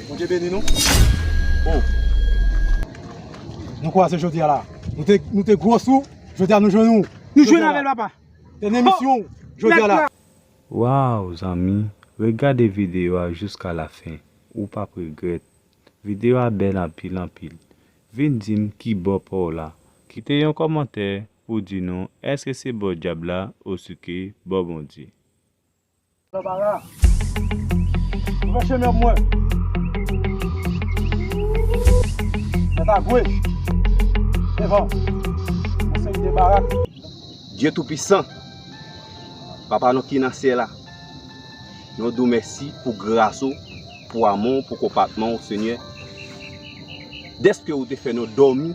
Bondye beni nou oh Nou kwaze jodi a la Nou te gwo sou Jodi a nou jwenn ou Nou jwenn avèl papa Te nan emisyon Jodi a la Waw zanmi regade video a juska la fin ou pap regret video a bel anpil anpil vin dim kibò paw la kite yon komantè pou di nou eske se bò dyab la osouke bò Bondye. Barbara Mwen pran chemen m mwen Mwen pa vwe devan Mwen se yon vye barak. Dye tou pisan, Papa nou ki nan syèl la, nou di w mèsi pou gras ou, pou amou w, pou konpatman w Senyè, dèske ou te fè nou dòmi.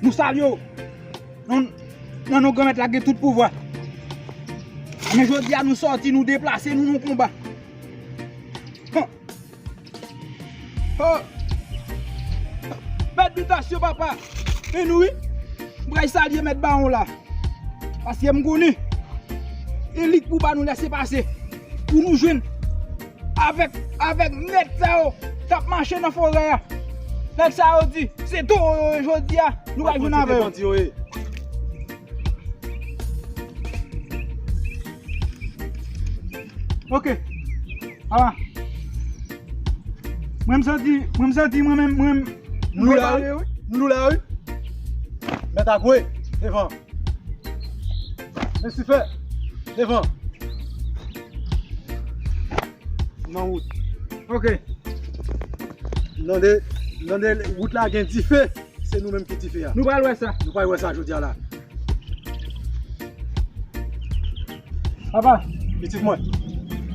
Nou salye w nan non Granmèt la k gen tout pouvwa. Jounen jodi a nou sòti, nou deplase, nou nan konba. Mèt bitasyon papa, men nou wi. M pral salye mèt bawon la. Paske m konnen, elik pou ba nou lese pase. Pou nou jwenn. Avèk avèk nèg sa yo kap mache nan forè a nèg sa yo di se towo yo ye jodi a nou pral jwenn avè yo. Ok ala mwen m santi mwen m santi mwen menm mwen m m lou la wi m lou la wi mèt a gwe devan. Lesife, devan. Nan wout. Ok. Nande, nande wout la gen dife. Se nou menm ki dife a. Nou pral wè sa. Nou pral wè sa jodi a la. Papa, pitit mwen,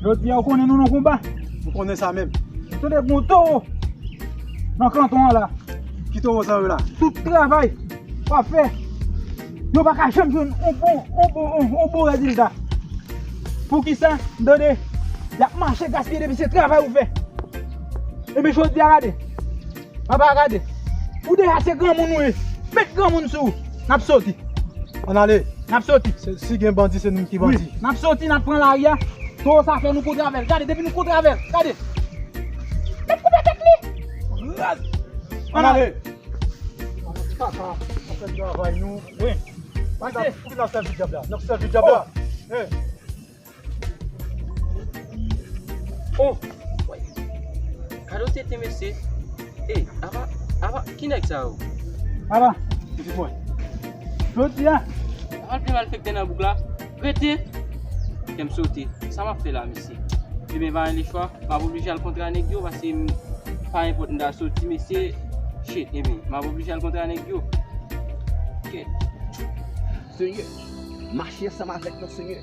jodi a ou konnen nou nan konba? Ou konnen sa menm. Tande gon towo nan kanton an la. Ki towo sa yo la? Tout travay wap fè, yo pa ka janm jwenn yon bon, yon bon, yon bon rezilta. Poukisa? Tande, yap mache gaspiye depi se travay ou fè. Enben jodi a gade. Papa gade, ou deja se granmoun ou ye, met granmoun sou ou, nap soti. Ann ale. Nap soti. Si gen bandi se nou menm ki bandi. Wi, nap soti nap pran lari a, towo sa fè nou kontre avèl, gade depi nou kontre avèl, gade. Met koupe tèt li. Raz. Ann ale. Papa, ann fè travay nou. Wi. Pase. Poukisa nap sèvi dyab la? Nap sèvi dyab la. Oh. He. Oh! Woy! Kado tenten mesye! Ey! Aba! Aba! Ki nèg sa yo? Aba! Pitit mwen! Jodi a! Aba vle malfèktè nan bouk la! Rete! Kèm sote! Sa map fè la mesye? Demen pa gen lechwa! Map oblije al kontra nèg yo paske m pa nenpòt m ta soti mesye! Shit! Ebyen! Map oblije al kontra nèg yo! Kèt! Senyè! Mache ansanm avèk mwen Senyè!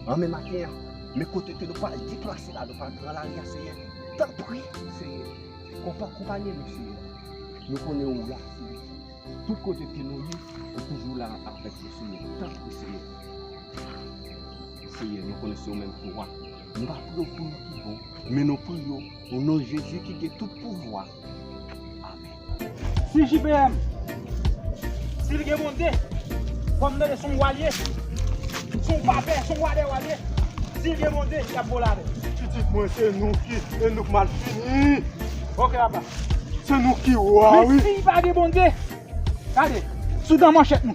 Anmen maten an, men kote ke nou pral deplase la, nou pral pran lari a Seyè, tanpri Seyè, konpa konpanye nou Seyè, nou konnen ou la Seyè, tout kote ke nou ye, ou toujou la avèk nou Seyè, tanpri Seyè, Seyè nou konnen se ou menm ki wa, nou pa priye w pou nou ki bon, men nou priye w o non Jezi ki gen tout pouvwa. Si JPM si li gen bonte fò m tande son w al ye si w pa pè son wadè w al ye si l gen bonte y ap vole avè l pitit mwen se nou ki e nou k mal fini ok apa se nou ki wa wi men si pa gen bonte gade sou dan manchèt nou.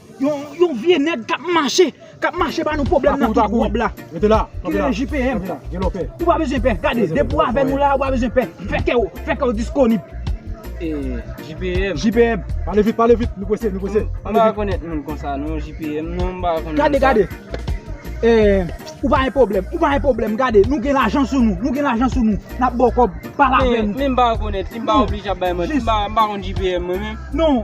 Yon vye nèg kap mache, kap mache ba nou pwoblèm nan tout wòb la. Kilè JPM? Ou pa bezwen pè, gade, depi ou avè nou la, ou pa bezwen pè. Fè kè ou, fè kè ou disponib. JPM? Pale vit, pale vit, nou pwese, nou pwese. Mwen pa konèt moun konsa non, JPM, non mwen pa konèt moun sa. Gade, gade, ou pa yon pwoblèm, ou pa yon pwoblèm, gade, nou gen lajan sou nou, nou gen lajan sou nou, nap bò kòb, pale avè nou. Men mwen pa konèt li, mwen pa oblije ap bay manti, mwen pa konèt JPM mwen men. Non.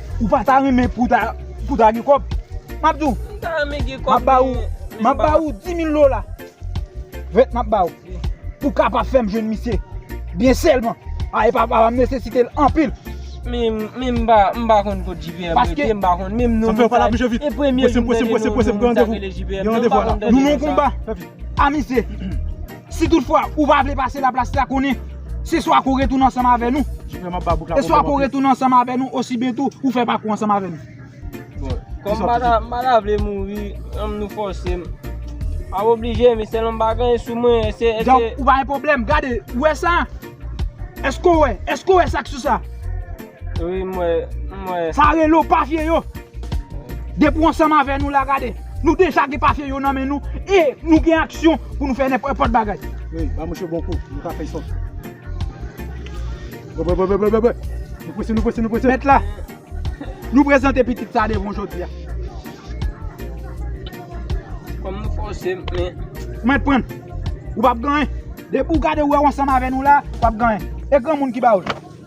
Ou pa ta renmen pou w ta gen kòb? M ap di w, m ap ba ou 10.000 dola, vèt m ap ba ou, pou w kapab fè m jwenn misye byen sèlman. A epa papa m nesesite l anpil. Men m pa konn kot JP ap rete, m pa konn menm non li. Se premye jou m tande non sa ki rele JP. M pa konn tande non sa. Nou nan yon konba a misye. Si tout fwa ou pa vle pase la plas la konnen se swa kou retounen ansanm avè nou e swa kou retounen ansanm avè nou osi byen tou ou fè pakou ansanm avè nou. Bon, kòm m pata, m pata vle mouri, anm nou fòse m. Ap oblije m e sèlman m pa gen anyen sou mwen e se, e se. Donk ou pa gen pwoblèm, gade, ou wè sa? Èske ou wè, èske ou wè sa k sou sa? Wi m wè, m wè. Sa rele w papye yo. Depi w ansanm avè nou la gade, nou deja gen papye yo nan men nou e nou gen aksyon pou nou fè nenpòt bagay. Wi, ba mouche bon kou, nou ka fè sòt. Bwè bwè bwè bwè bwè. Nou prese, nou prese, nou prese. Mèt la, nou prezante pitit sa devan w jodi a. Kòm nou fòse m, men. Mwen t prann. Ou pap gen anyen. Depi w gade w wè w ansanm avè nou la, w pap gen anyen. E granmoun ki ba w l?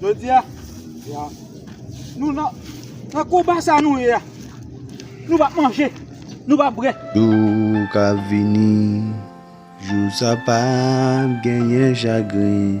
Jodi a, nou nan konba sa nou ye a. Nou pa manje, nou pa bwè. Jou ka vini, jou sa pa genyen chagren.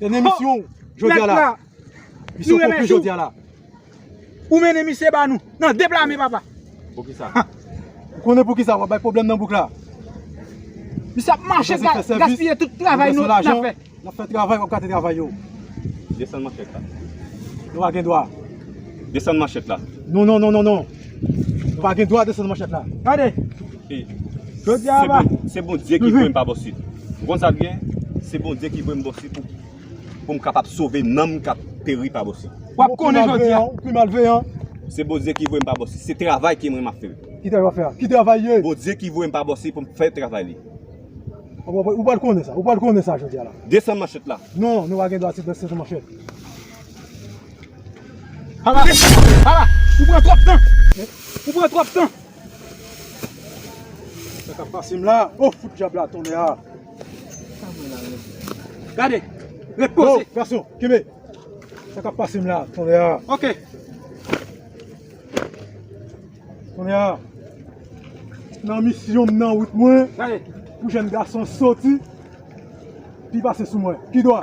Dènye misyon ou jodi a la. Misyon konkli jodi a la. Ou mennen misye ba nou. Nan de pla men papa. Poukisa? Ou konnen poukisa wap bay pwoblèm nan bouk la. Misye ap mache gaspiye tout travay nou nan fè. Nan fè travay wap gate travay yo. Desann manchèt la. Nou pa gen dwa. Desann manchèt la. Non non non non non. Ou pa gen dwa desann manchèt la. Gade! Jodi a aba. Se Bondye ki voye m pa bò sit. Ou konn sa k gen? Se Bondye ki voye m bò sit pou m kapab sove nanm k ap peri pa bò sit. W ap konnen jodi a. Ou pi malveyan. Se Bondye ki voye m pa bò sit. Se travay ke mwen m ap fè. Ki travay w ap fè a? Ki travay li ye? Bondye ki voye m pa bò sit pou m fè travay li. Ou pral konnen sa. Ou pral konnen sa jodi a la. Desann manchèt la. Non, nou pa gen dwa desann manchèt. Ala! Ala! Ou pran twòp tan! Ou pran twòp tan! Sa kap pase m la? O! Fout dyab la tonnè a! Gade! Ret poze! O! Gason! Kenbe! Sa kap pase m la tonnè a? Ok! Tonnè a! Nan misyon m nan wout mwen! Gade! Pou jèn gason soti! Pi pase sou mwen! Pi dwa!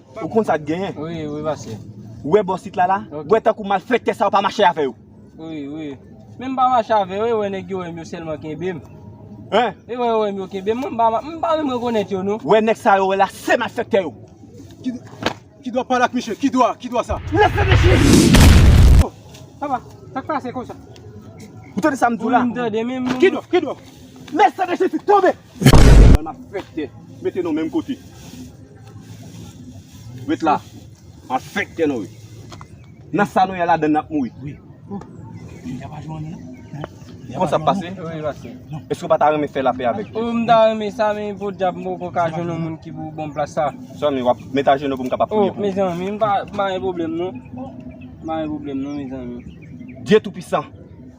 Ou konn sa t genyen? Wi, wi pase. Ou wè bò sit la la? Ou wè tankou malfèktè sa yo pa mache avè yo? Wi, wi. Men m pa mache avè yo, e wè nèg yo wè m yo sèlman kenbe m. Hein? E wè yo wè m yo kenbe m, mwen m pa ma, m pa menm rekonèt yo non. Wè nèg sa yo wè la se malfèktè yo. Ki, ki dwa pale ak misye? Ki dwa? Ki dwa sa? Lève mesye! Oh! Papa, sa k pase konsa? Ou tande sa m di w la? Wi, m tande men m. Ki dwa? Ki dwa? Lève mesye fi, tonbe! Mwen m ap fèk kè mete nou menm kote. Ret la. M ap fèk kè nou. Nan sa nou ye ladan n ap mouri. Kòman sa ap pase? Èske ou pa ta renmen fè lapè avèk nou? M ta renmen sa men podyab m poko ka jwenn yon moun ki pou ban m plas sa. Mezanmi w ap met ajenou pou m kapab priye pou ou. Mezanmi m pa gen pwoblèm non. M pa gen pwoblèm non mezanmi. Dye toupisan.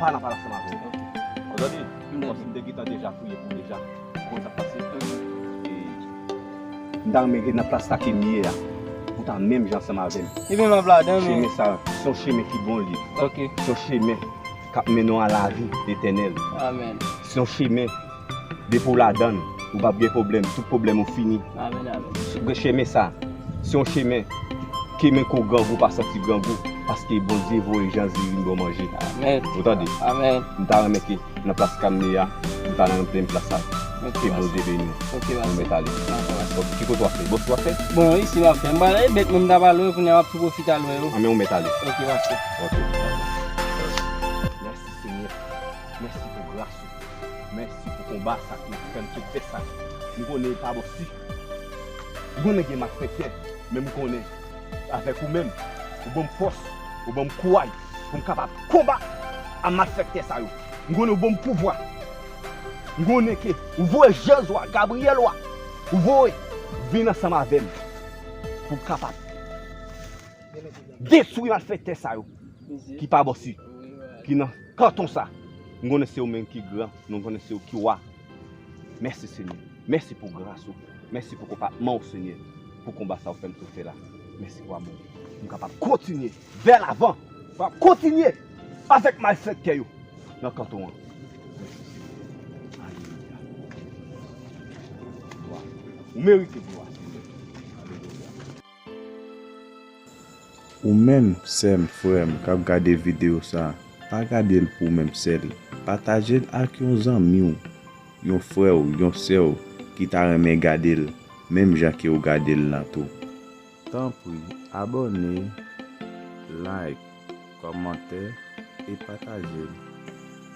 Pala pala sa map vin ok. Odon li m konsi m te gentan deja fouye pou deja konn sak pase m ta renmen ret nan plas la kem ye a pou ta menm jan ansanm avem Ebyen map ladan men Chemen sa son chemen ki bon li ok son chemen kap mennen w a lavi etènèl amen son chemen Depi w ladan l, ou pap gen pwoblèm, tout pwoblèm ou fini. Chemen sa, se yon chemen ke menm ke w grangou ou pa santi grangou paske Bondye voye Janzi vin ba w manje. Ou tande? M ta renmen ke nan plas Kamni a, ou ta nan menm plas ak mwen. Ke Bondye beni w. Mwen mèt ale. Ki kote w ap fè? Bòs ou ap fè? Bon, isi m ap fè. M pral ale bet mwen m ta pral lwe kounya m ap tou pwofite al lwe yo. Anben ou mèt ale. Ok pastè. Ok. Mèsi Senyè. Mèsi pou gras ou. Mèsi pou konba sa ki fèm sot fè sa m konnen li pa bon si m konnen gen malfèktè men m konnen avèk ou menm ou banm fòs ou banm kouraj pou m kapab konbat a malfèktè sa yo m konnen ou banm pouvwa m konnen ke ou voye jèz ou a Gabriel ou a ou voye vin ansanm avèm pou m kapab detwi malfèktè sa yo ki pa bon si ki nan. Kanton sa. Nou konnen se ou menm ki gran, nou konnen se ou ki wa. Mèsi Senyè. Mèsi pou gras ou. Mèsi pou konpatman ou Senyè. Pou konba sa ou fèm tou fè la. Mèsi pou amou ou. M kapab kontinye vè lavan. M kapab kontinye avèk malfèktè yo nan kanton an. Mèsi Senyè. Alelouya. Glwa. Ou merite glwa Senyè. Alelouya. Ou menm sèm, frèm kap gade video sa, pa gadel pou ou menm sèl, patajel ak yon zanmiw, yon frèw, yon sèw ki ta renmen gadel menm jan ke ou gadel lan tou. Tanpri abòne, like, kòmante e patajel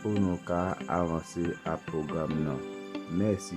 pou nou ka avanse ak pwogram nan. Mèsi.